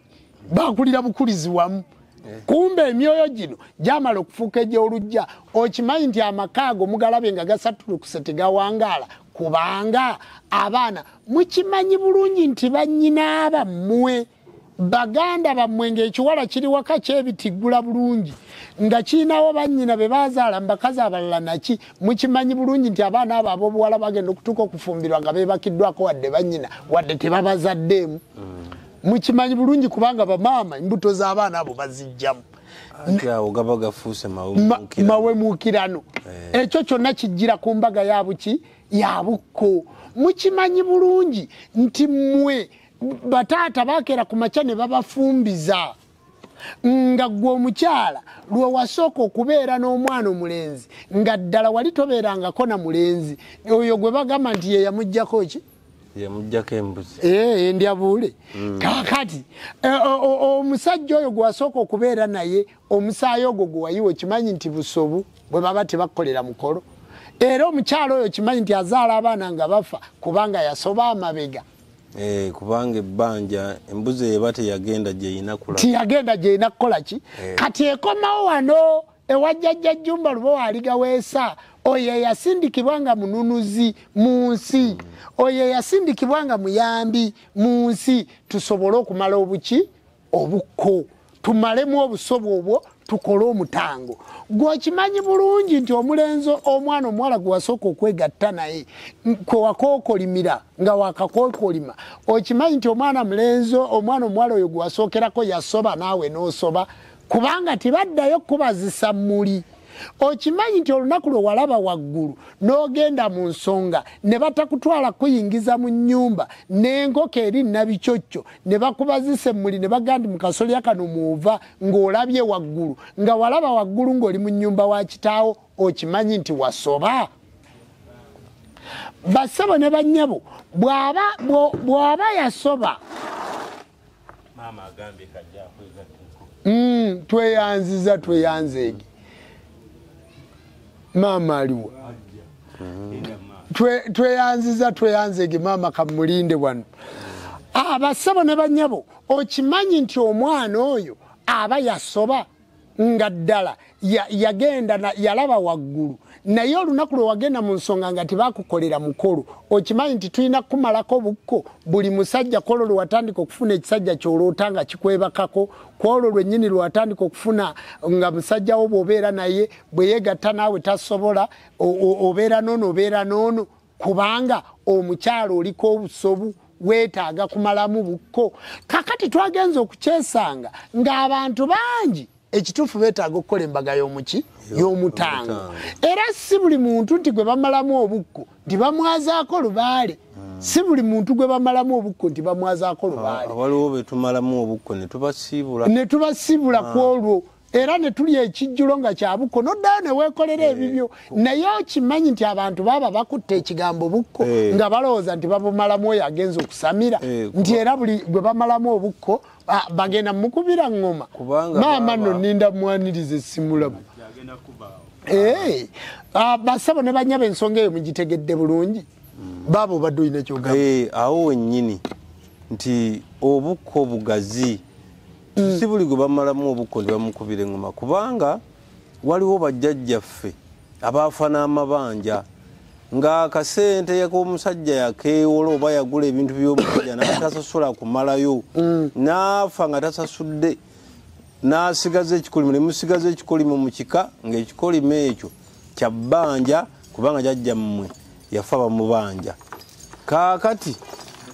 bakulira bukulizi wamu eh. kumbe emyoyo gino gyamala okufuuka egyolujja okimanyi nti amaka ago mugalabye nga gasatulukuse tegawangaala kubanga abaana mukimanyi bulungi nti banyinaaba mmwe baganda bammwe ng'ekiwala kiri waka kyebitiggula bulungi nga kirinawo bannyina be bazaala mu bakazi abalala naki mukimanyi bulungi nti abaana abo ab'obuwala bagenda okutuuka okufumbirwa nga beebakiddwako wadde bannyina wadde tebabazaddeemu mukimanyi bulungi kubanga bamaama embuto z'abaana abo bazijjamu mawemuukirano eh. ekyo kyonna kijjira ku mbaga yabuki yabukko mukimanyi bulungi nti mmwe bataata bakeera ku makya ne babafumbiza nga gwe omukyala lwe wasooka okubeera n'omwana omulenzi nga ddala wali tobeerangako na mulenzi oyo gwe bagamba nti ye yamugjako ki yamujjako embuzi eh, eh, ndyabuule mm. kakati eh, omusajja oyo gwewasooka okubeera naye omusaayi ogwo gwewayiwa okimanyi nti busobu bwe baba tebakukolera mukolo era omukyalo oyo okimanyi nti azaala abaana nga bafa kubanga yasoba amabega Eh, kubanga ebbanja embuzi eba teyagenda gyeyina kula tiyagenda gyeyina kukola ki eh. kati ekomawo wano ewajjajja jjumba luba waaligaweesa oyo eyasindikibwa nga mununuzi mu nsi hmm. oyo eyasindikibwa nga muyambi mu nsi tusobole okumala obuki obukko tumalemu obusobo obwo tukole omutango gweokimanyi bulungi nti omulenzi omwana omuwala gwewasooka okwegatta naye kwewakookolimira nga wakakookolima okimanyi nti omwana mulenzi omwana omuwala oyo gwewasookerako yasoba naawe n'osoba kubanga tibaddayo kubazisa muli okimanyi nti olunaku lwe walaba waggulu n'ogenda mu nsonga ne batakutwala kuyingiza mu nnyumba n'enkoko eri nabikyokyo ne bakuba zisemmuli ne baga nti mukasolya kano mwova ng'olabye waggulu nga walaba waggulu ng'oli mu nnyumba wa kitaawo okimanyi nti wasoba bassebo ne bannyabo bwaba bwaba yasoba mm, tweyanziza tweyanzeege maama aliwa tweyanziza tweyanzege maama kamulinde wano abasabo ah, ne banyabo okimanyi nti omwana oyo aba yasoba nga ddala yagenda yalaba waggulu naye olunaku lwe wagenda mu nsonga nga tebakukolera mukolo okimanyi nti tulina kukumalako bukko buli musajja kwolwo lwe watandika okufuna ekisajja kyoloota nga kikwebakako kwolwo lwennyini lwe watandika okufuna nga musajjawo bw'obeera naye bwe yegatta naawe tasobola obeera noono obeera noono kubanga omukyalo oliko obusobu weetaaga kumalamu bukko kakati twagenza okukyesanga ng'abantu bangi ekituufu beetaaga okukola embaga y'omuki y'omutango era si buli muntu nti gwe bamalamu obukko nti bamwazaako lubaale hmm. si buli muntu gwe bamalamu obukko nti bamwazaako lubaale waliwo betumalamu obukko ne tubasiibula ne tubasiibula ah. ku olwo era ne tuli ekijjulo nga kya bukko noddayo ne weekolera eh. ebibyo naye okimanyi nti abantu baba bakutte ekigambo bukko eh. nga balowooza nti babumalamu oyo agenza okusamira eh, nti era buli gwe bamalamu obukko bagenda mukubira ŋŋoma maama no ninda mwaniriza esimulamu basabo ne banyaba ensonga eyo mugitegedde bulungi hmm. baabo obadde olina ekyogamba awo wennyini nti obukko bugazi mm. si buli gwe bamalamu obukko ne bamukubira engoma kubanga waliwo bajjajjaffe abaafa n'amabanja ng'akasente k'omusajja yakeewola oba yagula ebintu by'omusajja n'atasasola kumalayo mm. n'afa nga tasasudde n'asigaza ekikolimo ne musigaza ekikolimo mu kika ng'ekikolimo ekyo kya bbanja kubanga jajja mmwe yafa bamubanja kaakati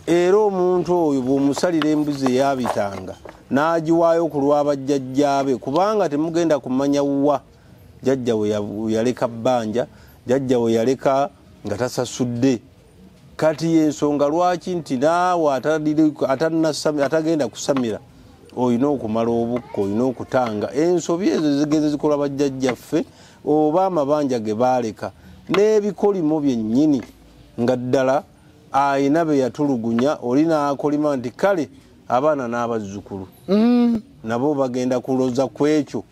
era omuntu oyo bw'omusalira embuzi eyabitanga n'agiwaayo ku lwabajjajjaabe kubanga temugenda kumanya wa jajja we yaleka bbanja jajja we yaleka nga tasasudde kati yensonga lwaki nti naawe atagenda kusamira olina okumala obukka olina okutanga ensobi ezo zigenze zikola bajjajjaffe oba amabanja ge baaleka n'ebikolimo byennyini nga ddala ayina be yatulugunya oli naakolima nti kale abaana n'abazzukulu mm. nabo bagenda kuloza ku ekyo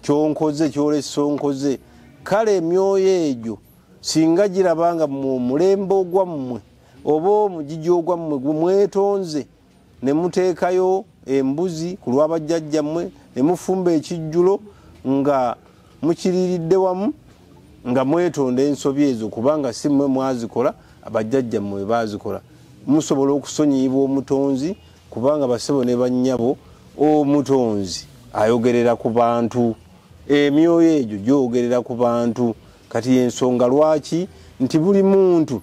kyonkoze kyolesa onkoze kale emyoyo egyo singa giraba nga mu mulembe ogwammwe oba omugigi ogwammwe gwemwetonze ne muteekayo embuzi ku lwabajjajjammwe ne mufumba ekijjulo nga mukiriiridde wamu nga mwetonda ensobi ezo kubanga si mmwe mwazikola abajjajjammwe we baazikola musobola okusonyiyibwa omutonzi kubanga basebo ne bannyabo omutonzi ayogerera ku bantu emyoyo egyo gyogerera ku bantu kati yensonga lwaki nti buli muntu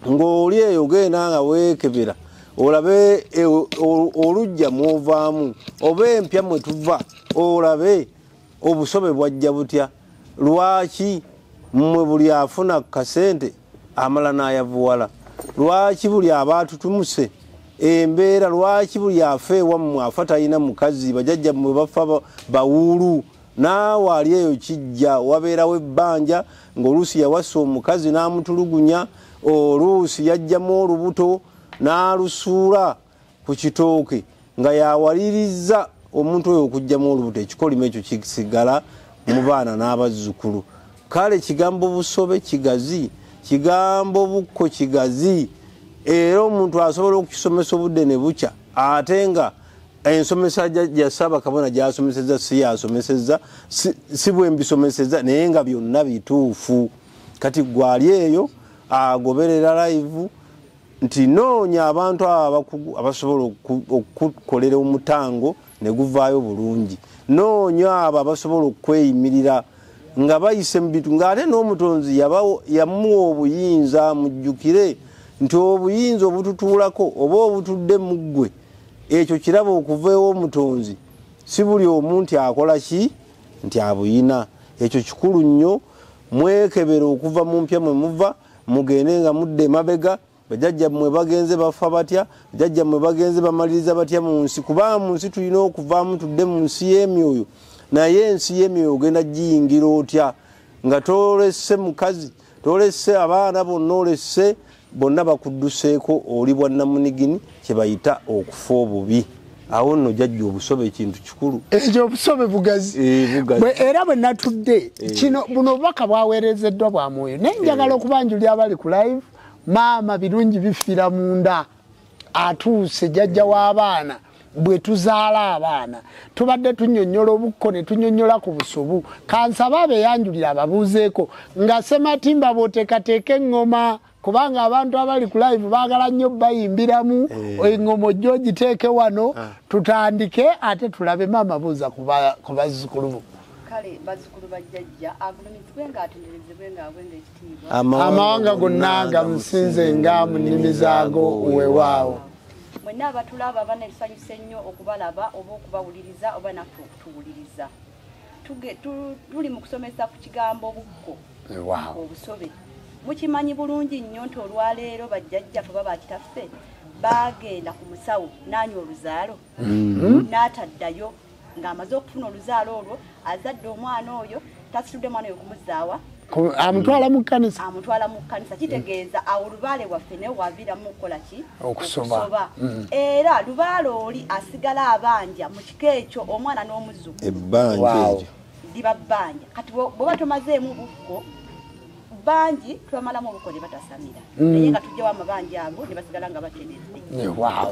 ng'oli eyo genda nga weekebera olabe e, olujja mwovaamu oba empya mwe tuva olabe obusobe bwajja butya lwaki mmwe buli afuna ku kasente amala n'ayavuwala lwaki buli aba atutumuse embeera lwaki buli afa ewammwe afa talina mukazi bajajja mmwe bafa bawuulu naawe ali eyo kijja wabeerawo ebbanja ng'oluusi yawasa omukazi n'amutulugunya oluusi yajjamu olubuto n'alusuula ku kitooke nga yawaliriza omuntu oyo okujjamu olubuto ekikolimo ekyo kisigala mu baana n'abazzukulu kale kigambo busobe kigazi kigambo bukko kigazi era omuntu asobola okukisomesa obudde ne bukya ate nga ensomesa ya ssaabakabona gyasomeseza si yasomeseza si bwembisomeseza naye nga byonna bituufu kati gwali eyo agoberera laivu nti noonya abantu abo abakugu abasobola okukolera omutango ne guvaayo bulungi noonya abo abasobola okweyimirira nga bayise mu bintu ng'ate n'omutonzi yamuwa obuyinza mujjukire nti obuyinza obututuulako oba obutudde mu ggwe ekyo kiraba okuva ew'omutonzi si buli omu nti akola ki nti abuyina ekyo kikulu nnyo mwekebera okuva mu mpya mwe muva mugende nga mudde emabega bajajja mwe bagenze bafa batya bajajja mwe bagenze bamaliriza batya mu nsi kuba mu nsi tulina okuvaamu tudde mu nsi y'emyoyo naye ensi y'emyoyo ogenda giyingira otya nga tolese mukazi tolese abaana bonna olese bonna bakudduseeko oli bwannamunigini kyebayita okufa obubi awo nno jajja obusobe ekintu kikulu ekyo obusobe bugazi eh, era bwe natudde eh. kino buno obubaka bwaweerezeddwa bwa mwoyo naye njagala eh. okubanjuli abali ku live maama birungi bifiira munda atuuse jajja w'abaana bwe tuzaala abaana tubadde tunyonyola obukko ne tunyonyola ku busubu kansaba abeyanjulira ababuuzeeko nga sematimba bwotekateeka eŋŋoma kubanga abantu abali ku live baagala nnyo bayimbiramu eh. eŋŋoma ojja ogiteeke wano ah. tutandike ate tulabe maama buuza ku bazzukulubu kale bazzukulu bajjajja agulumizibwe ng'atenderezebwe ng'abwe amawanga gonna gamusinze nga mu nnimi zaago wewaawo mwenna abatulaba abana ebisanyusa ennyo okubalaba oba okubawuliriza oba naffe okutuwuliriza tuli mu kusomesa ku kigambo bukko obusobe mukimanyi bulungi nnyo nti olwaleero bajjajjafe oba bakitaffe baagenda ku musawo naanywa oluzaalo mm-hmm. n'ataddayo ng'amaze okufuna oluzaalo olwo azadde omwana oyo tasitudde mwana oyo kumuzaawa amutwala mu kkanisa amutwala mu kkanisa kitegeeza awo lubaale waffe naye waviiramu okukola ki okusoba mm-hmm. era lubaale oli asigala abanja mu kika ekyo omwana n'omuzuku ebbanja eryo liba bbanja kati bwoba tomazeemu bukko bangi twamalamu obuko ne batasamira mm. naye nga tujjawo amabanja ago ne basigala nga bateredde wow.